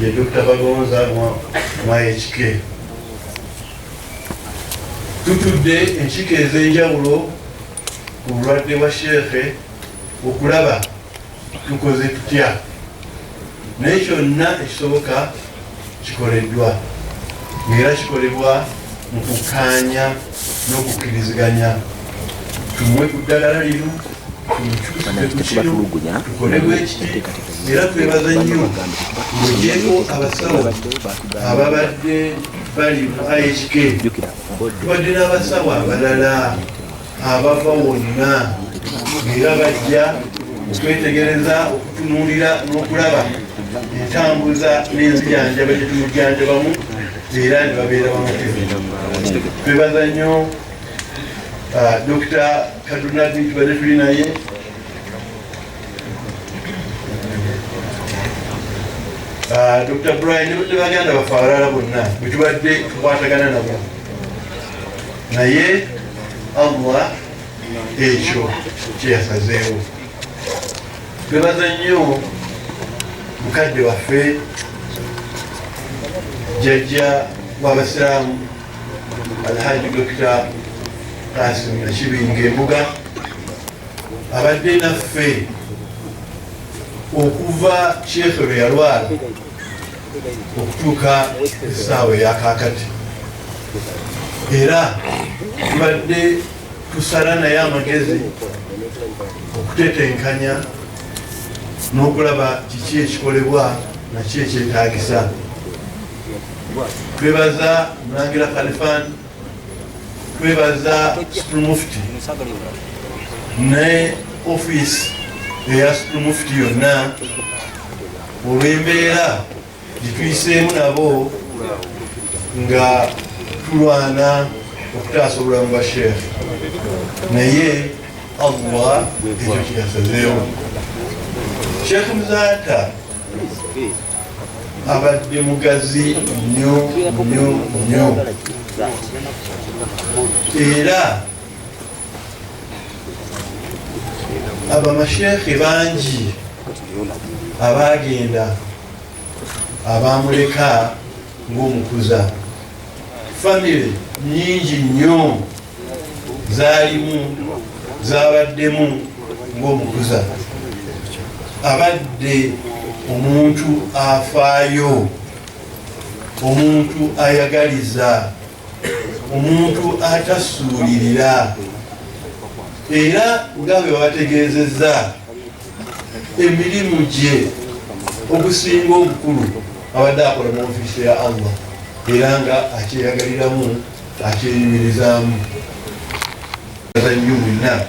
Ye Dokita Bagonza mwa HK. Tutudde enkiiko ez'enjawulo ku bulwadde bwa sheekhe okulaba tukoze tutya naye kyonna ekisoboka kikoleddwa ngaera kikolebwa mu kukkaanya n'okukkiriziganya tumuwe ku ddagala lino tetubatulugunya era twebaza nnyo mugyeko abasawo ababadde bali mu ihk tubadde n'abasawo abalala abava wonna era bajja okwetegereza okutunuulira n'okulaba entambuza n'enzijanjaba gyetumujjanjabamu era ne babeera bamutebe twebaza nnyo Uh, Dr. Kaduna Bintu bade tuli naye uh, Dr. Brian ne badde baganda baffe abalala bonna bwe tubadde tukwatagana nabo naye Allah ekyo kyeyasazeewo twebaza nnyo mukadde waffe jjajja w'abasiraamu Alhaji Dokita Kasim Nakibinga Embuga abadde naffe okuva sheekhe lwe yalwala okutuuka essaawa eyakaakati era tubadde tusala naye amagezi okutetenkanya n'okulaba kiki ekikolebwa naki ekyetagisa twebaza mulangira khalifan twebaza mufti ne ofiisi eya mufti yonna olw'embeera gituyiseemu nabo nga tulwana okutaasa obulamu bwa sheekh naye allah ekyo kyasazeewo sheekh muzaata abadde mugazi nnyo nnyo nnyo era abamasheekhe bangi abaagenda abamuleka ng'omukuza famire nyingi nnyo zaalimu zabaddemu ng'omukuza abadde omuntu afaayo omuntu ayagaliza omuntu atasuulirira era nga bwe bategeezezza emirimu gye ogusinga obukulu abadde akola mu ofiisi ya allah era nga akyeyagaliramu akyenyumirizaamu baza nnyo mwenna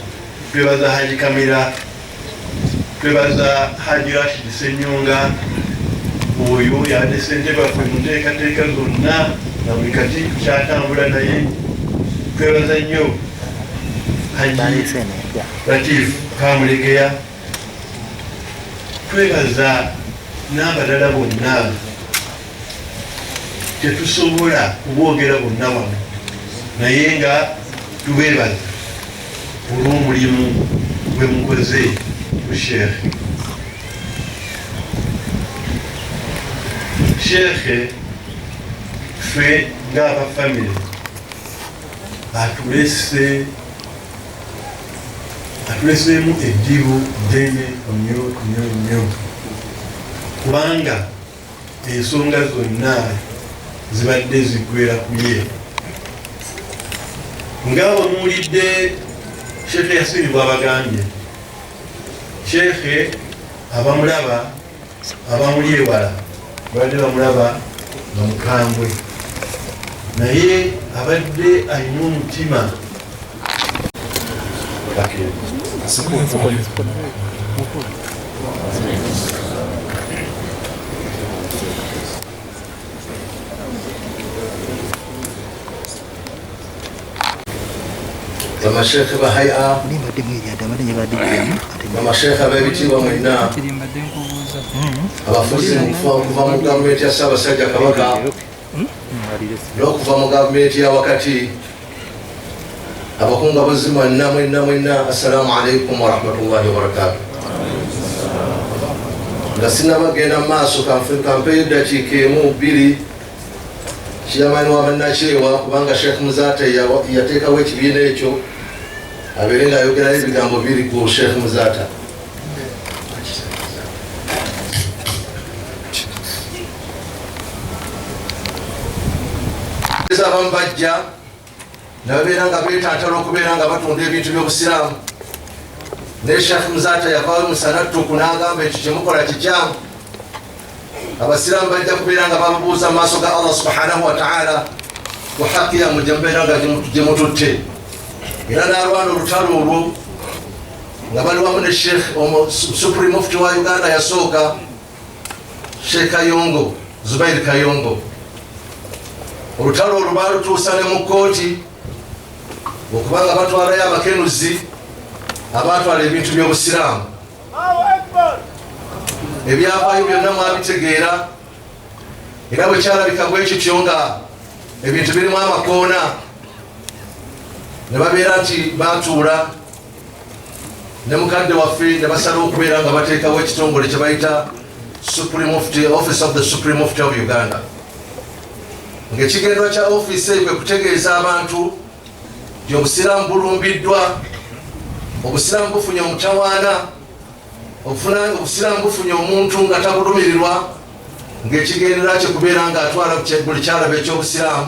twebaza haji kamera twebaza haji rashid senyonga oyo yabadde sente baffe mu nteekateeka zonna nga buli kati kyatambula naye twebaza nnyo haji latif kamulegeya twebaza n'abalala bonna tetusobola kubogera bonna wano naye nga tubeebaza olw'omulimu gwe mukoze ku sheekhe sheekhe ffe ngaaba famire atulese atuleseemu eddibu ddene nyo nyo nyo kubanga ensonga zonna zibadde ziggwera kuye nga wemuwulidde sheekhe yasini bwabagambye sheekhe abamulaba abamuli ewala babadde bamulaba nga mukambwe naye abadde alina omutima bamashekhe bahaya bamashekhe abebitiibwa mwenna abafuzi mukufa okuva mu gavumenti ya ssaabasajja kabaka n'okuva mu gavumenti ya wakati abakunga buzzi mwenna mwenna mwenna assalamu alaikum warahmatullahi wabarakatu nga sinabagenda mu maaso kampeyo eddakiika emu bbiri kiyamani wabannakyewa kubanga sheekh muzaate yateekawo ekibiina ekyo abeere nga ayogerayo ebigambo biri ku sheekh muzaata abamu bajja nababeera nga betantala okubeera nga batunda ebintu byobusiraamu naye shafu muzata yavayo musanattuku nagamba ekyo kyemukola kikyamu abasiraamu bajja kubeera nga babubuuza maaso ga allah subhanahu wataala kuhakiyamu gyemubeera nga gyemututte era nalwana olutalo olwo nga bali wamu ne sheikh supreme mufti wa uganda yasooka Sheikh Kayongo Zubair Kayongo olutalo olwo baalutuusa ne mu kkooti okubanga batwalayo abakenuzi abaatwala ebintu by'obusiraamu ebyavaayo byonna mwabitegeera era bwe kyalabika bwe kityo nga ebintu birimu amakoona ne babeera nti baatuula ne mukadde waffe ne basalawo okubeera nga bateekawo ekitongole kye bayita supreme office of the supreme office of uganda ng'ekigendwa kya ofiisi eyo kwe kutegeeza abantu nti obusiraamu bulumbiddwa obusiraamu bufunye omutawaana obusiraamu bufunye omuntu nga tabulumirirwa ng'ekigendera kye kubeera ng'atwala buli kyalaba eky'obusiraamu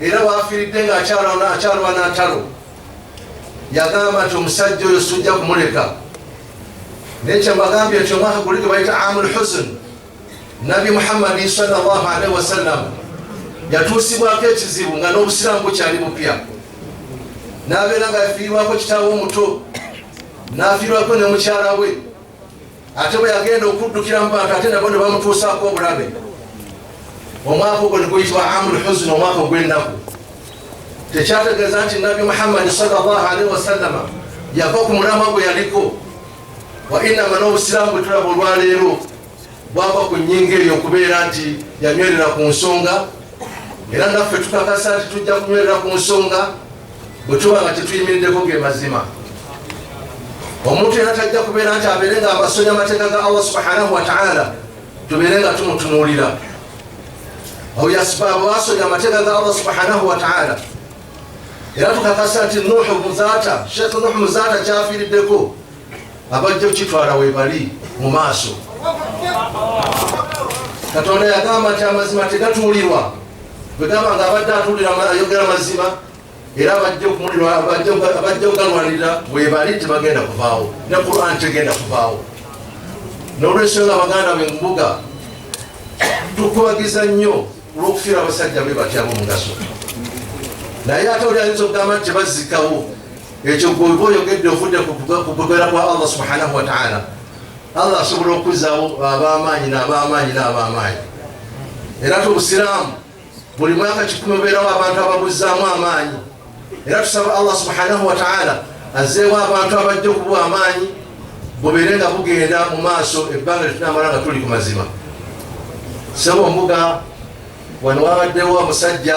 era waafiiridde ng'akyalwana ntalo yagamba nti omusajja oyo sujja kumuleka naye kyembagambye nti omwaka guli gwe bayita amul husn nabi muhammadi salllahu alaihi wasallam yatuusibwako ekizibu nga n'obusiraamu bukyali bupya n'abeera nga yafiirwako kitaawe omuto n'afiirwako ne mukyala we ate bwe yagenda okuddukira mu bantu ate nabo ne bamutuusaako obulabe omwaka ogwo ne guyitibwa amul huzuni omwaka ogw'ennaku tekyategeeza nti nabbi muhammadi salllah alaihi wasallama yava ku mulamwa gwe yaliko wa inama n'obusiraamu bwe tulaba olwaleero bwava ku nnyinga eyo okubeera nti yanywerera ku nsonga era naffe tukakasa nti tujja kunywerera ku nsonga bwe tuba nga tetuyimiriddeko ge mazima omuntu era tajja kubeera nti abeere nga abasonya amateeka ga allah subhanahu wataala tubeere nga tumutunuulira oyo asibaabu asonya amateeka ga allah subhanahu wataala era tukakasa nti nuhu muzaata sheekh nuhu muzaata kyafiiriddeko abajja okitwala webali mu maaso katonda yagamba nti amazima tegatuulirwa bwegamba nga abadde atuulira ayogera mazima era abajja okumulirwa abajja ogalwanirira webali tebagenda kuvaawo ne quran tegenda kuvaawo nolwensonga nga baganda be mbuga tukubagiza nnyo olwokufiira abasajja be batyamu mugaso naye ate oli ayinza okugamba nti tebazikawo ekyo gweoba oyogedde ovudde kukugera kwa allah subhanahu wataala allah asobola okuzaawo abamaanyi nabamaanyi nabamaanyi era ti obusiraamu buli mwaka kikumi obeerawo abantu ababuzaamu amaanyi era tusaba allah subhanahu wataala azeewo abantu abajja okuba amaanyi bubeere nga bugenda mu maaso ebbanga litunamala nga tuli ku mazima sebo mbuga wano wabaddewo omusajja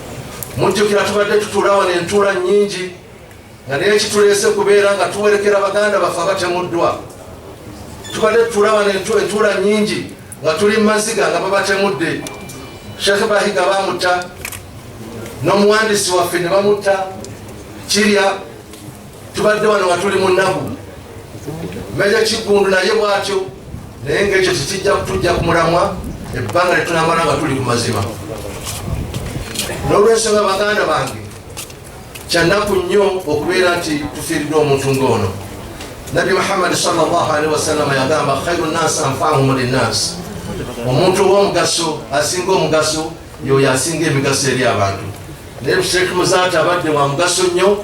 mujjukira tubadde tutuula wano entuula nnyingi nga naye kituleese kubeera nga tuwerekera baganda baffe abatemuddwa tubadde tutuula wano entuula nnyingi nga tuli mu maziga nga babatemudde shekhe bahiga bamutta n'omuwandiisi waffe ne bamutta kirya tubadde wano nga tuli mu nnaku meja kiggundu naye bwatyo naye ngaekyo tekijja kutujja ku mulamwa ebbanga lyetunamala nga tuli ku mazima n'olwensonga baganda bange kyannaku nnyo okubeera nti tufiiridde omuntu ng'ono nabbi muhammadi salllahalihi wasallama yagamba khairu nasi anfahum linasi omuntu ow'omugaso asinga omugaso yoyo asinga emigaso eri abantu naye sheikh muzaati abadde wa mugaso nnyo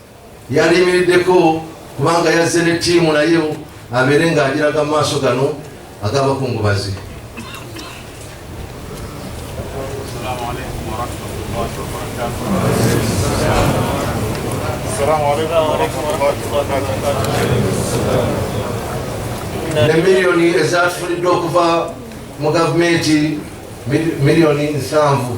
Yandiyimiriddeko kubanga yazze ne ttiimu nayo abeere ng'agiraga mu maaso gano ag'abakungubazi. ne miliyoni ezaatufuniddwa okuva mu gavumenti miliyoni nsanvu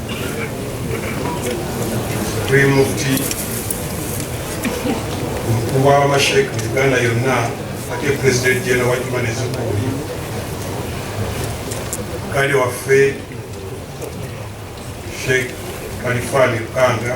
tuli mufti omukulu w'amasheek mu uganda yonna ate pulezidenti jena wa juma nezukuuli kale waffe sheek kalifani lukanga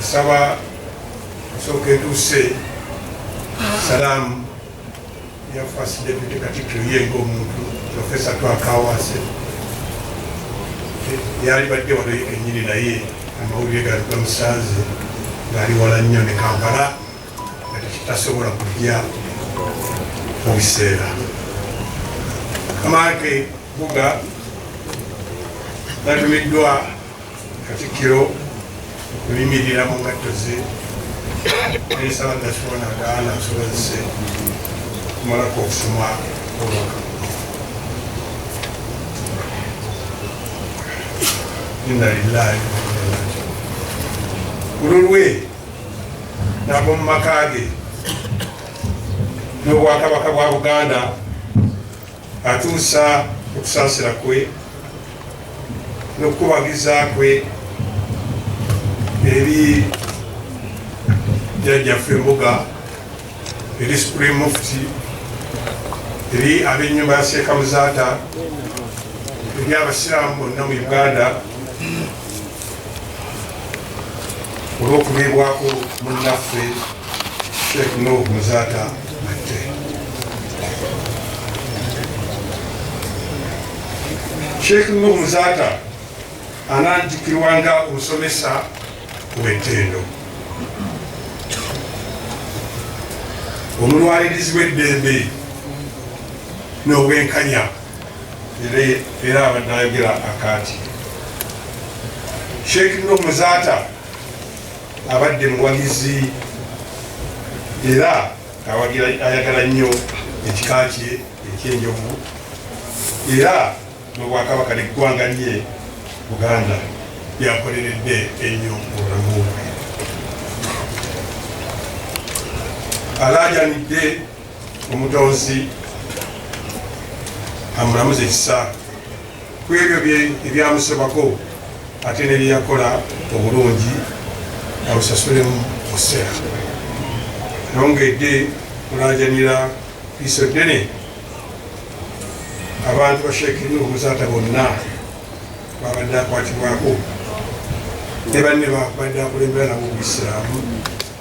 nsaba nsooka etuuse salaamu ya first deputy katikkiro ye ng'omuntu profesa twakawaase yali badde wano ye kenyini naye amawulire gali gamusanze ngaali wala nnyo ne kampala nga tekitasobola kujja mu biseera amaake buga natumiddwa Katikkiro okuyimirira mu ngatto ze ensaba nakiwa nagaana nsobozese okumalako okusoma obubaka inna lillahi ku lulwe nab'omu maka ge n'obwakabaka bwa buganda Atuusa okusaasira kwe n'okukubagiza kwe eri jjajjaffe embuga eri supreme mufti eri ab'ennyumba ya seeka muzaata eri abasiraamu bonna mu uganda olw'okubeebwako munnaffe sheikh nuh muzaata matte sheikh nuh muzaata ananjukirwa nga omusomesa w'ettendo omulwalirizi w'eddembe n'obwenkanya era abadde ayogera akaati sheikh no muzaata abadde muwagizi era awagira ayagala nnyo ekika kye ekyenjovu era nobwakabaka neggwanga lye buganda byakoleredde ennyo obulamu bwe alaajanidde omutonzi amulamuza ekisa ku ebyo ebyamusobako ate ne byeyakola obulungi abusasulemu mukiseera nongedde kulajanira iso ddene abantu bashekirina omuzaata bonna babadde akwatibwako ne banne babadde akulembera nabo mu isiraamu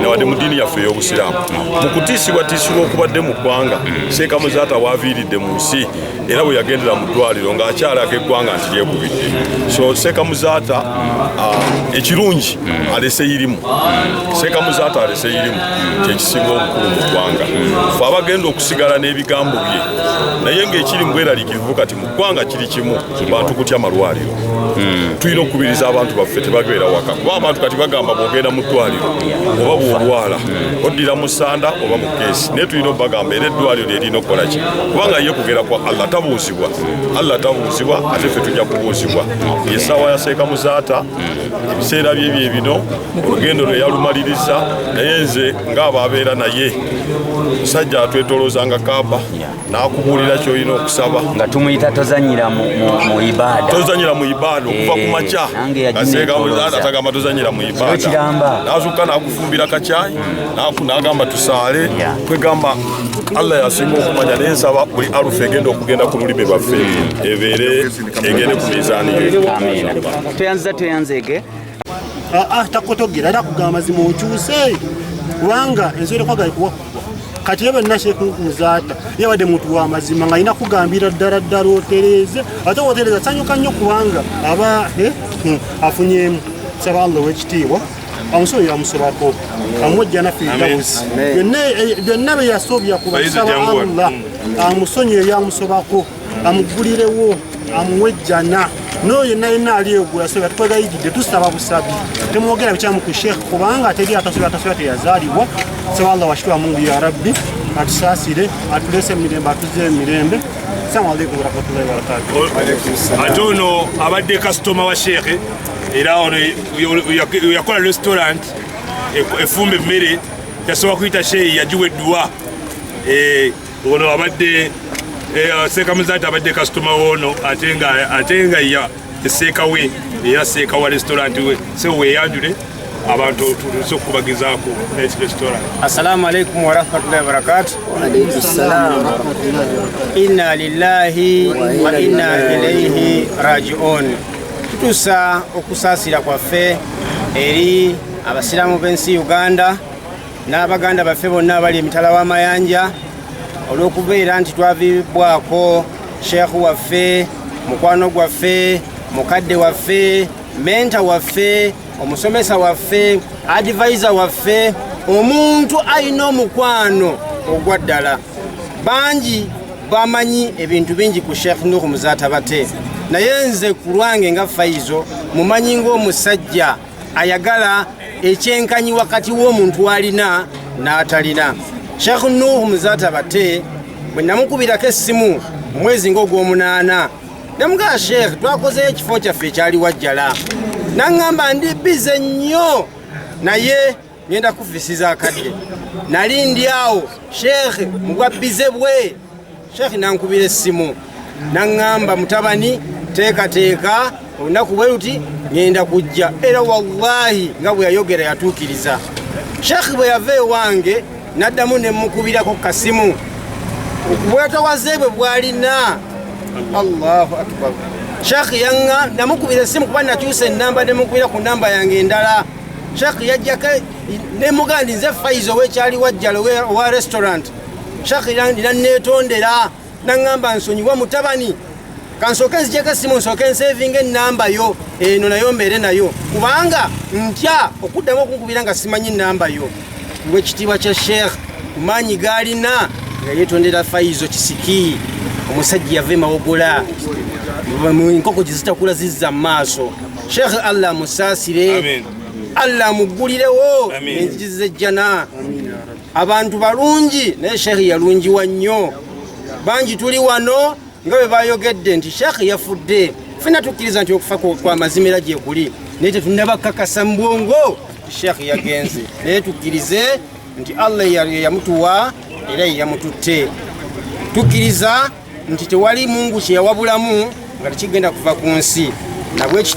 newadde mu ddiini yaffe ey'obusiraamu mu kutiisibwatiisibwa okubadde mu ggwanga seeka muzaata waaviiridde mu nsi era bwe yagendera mu ddwaliro ng'akyalaga eggwanga nti lyekubidde so seeka muzaata ah, ekirungi alese irimu seeka muzaata alese irimu kyekisinga obukulu mu ggwanga fe abagenda okusigala n'ebigambo bye naye ng'ekiri mu bweraliikirivu kati mu ggwanga kiri kimu bantu kutya malwaliro hmm. tulina okukubiriza abantu baffe tebabeera waka kuba abantu kati bagamba bwogenda mu ddwaliro oba bwolwala hmm. oddira mu sanda oba mu keesi naye tulina obagamba era eddwaliro lyerina okukola ki kubanga ye kugera kwa allah tabuuzibwa hmm. allah tabuuzibwa ate ffe tujja kubuuzibwa esaawa yaseeka muzaata ebiseera bye bye bino olugendo lwe yalumaliriza naye nze ng'abo abeera naye musajja atwetolooza nga kaaba yeah. nakubuulira kyolina okusaba nga tumuyita tozanyira mu ibada tozanyira mu ibada okuva ku eh, makya atagamba tozanyira mu ibada nazuka nakufumbira kakyayi nagamba tusaale kwegamba allah yasinga okumanya naye nsaba buli arufu egenda okugenda ku lulimi lwaffe hmm. ebeere egende ku mizaani yo tweyanziza tweyanzeege ah, ah, takotogera era kugamba mazima okyuse kubanga ensobi tekwagala kuwakugwa kati ye benna shekunkuzaata yabadde muntu wa mazima nga alina kugambira ddala ddala otereeze ate otereeza sanyuka nnyo kubanga aba eh, hmm, afunyemu saba allah owekitiibwa amusolo yamusobako amwejja nafirdausi byonna byeyasobya kubasaba allah amusonyi eyamusobako amuggulirewo amuwe ejjana n'oyo yenna yenna ali egula soya tukwegayigidde tusaba busabi temwogera bikyamu ku sheekh kubanga ateri atasoya atasoya teyazaalibwa saba allah washitwa mungu ya rabbi atusaasire atulese emirembe atuze emirembe salamu aleikum warahmatullahi wabarakatu ate ono abadde kasitoma wa sheekhe era ono yakola restaurant efumba emmere yasobola kuyita sheeyi yagiwa edduwa eh, ono abadde eh, seeka muzaati abadde kasitoma woono ate nga ya eseeka we eya seeka wa restauranti we se weyanjule abantu tutuuse okukubagizaako restaurant assalamu alaikum warahmatullahi wabarakatu inna lillahi wa inna ilaihi rajiun tutuusa okusaasira kwaffe eri abasiraamu b'ensi uganda n'abaganda baffe bonna abali emitala w'amayanja olw'okubeera nti twaviibwako sheekhu waffe mukwano gwaffe mukadde waffe menta waffe omusomesa waffe advisa waffe omuntu alina omukwano ogwa ddala bangi bamanyi ebintu bingi ku sheekh nuhu muzatabate naye nze ku lwange nga faizo mumanyi ng'omusajja ayagala ekyenkanyi wakati w'omuntu alina n'atalina sheikh nuhu muzata bate bwe namukubirako essimu omwezi ngaogwomunaana namugaa sheikh twakozeyo ekifo kyaffe ekyali wajjala naŋŋamba ndi bize nnyo naye ngenda kuvisiza akadde nali ndi awo sheekh mubwabbize bwe sheekh nankubira essimu naŋŋamba mutabani teekateeka olunaku bwe luti ŋenda kujja era wallahi nga bwe yayogera yatuukiriza sheekh bwe yava ewange naddamu ne mukubirako kasimu obwetawaze bwe bwalina allahu akbar sheekh yaŋŋa namukubira essimu kuba nakyusa ennamba ne mukubira ku nnamba yange endala shak yajjako nemugandi nze faiza owekyali wajjala owa restaurant shak nanetondera naŋamba nsonyiwa mutabani kansooke nzijeko esimu nsooke ensevinga enamba yo eno nayo mbeere nayo kubanga ntya okuddamu okunkubira nga simanyi namba yo ngwekitiibwa kya sheikh kumaanyi gaalina nga yetondera faizo kisiki omusajja yava emawogola enkoko gyezitakula zizza mu maaso Sheikh Allah musaasire Allah muggulirewo enzizi z'ejjana abantu balungi naye Sheikh yalungiwa nnyo bangi tuli wano nga bwe bayogedde nti Sheikh yafudde fena tukkiriza nti okufa kwa mazima era gyekuli naye tetunaba kakasa mu bwongo Sheikh yagenze naye tukkirize nti Allah yamutuwa era yeyamututte tukkiriza nti tewali mungu kyeyawabulamu nga tekigenda kuva ku nsi nabwekityo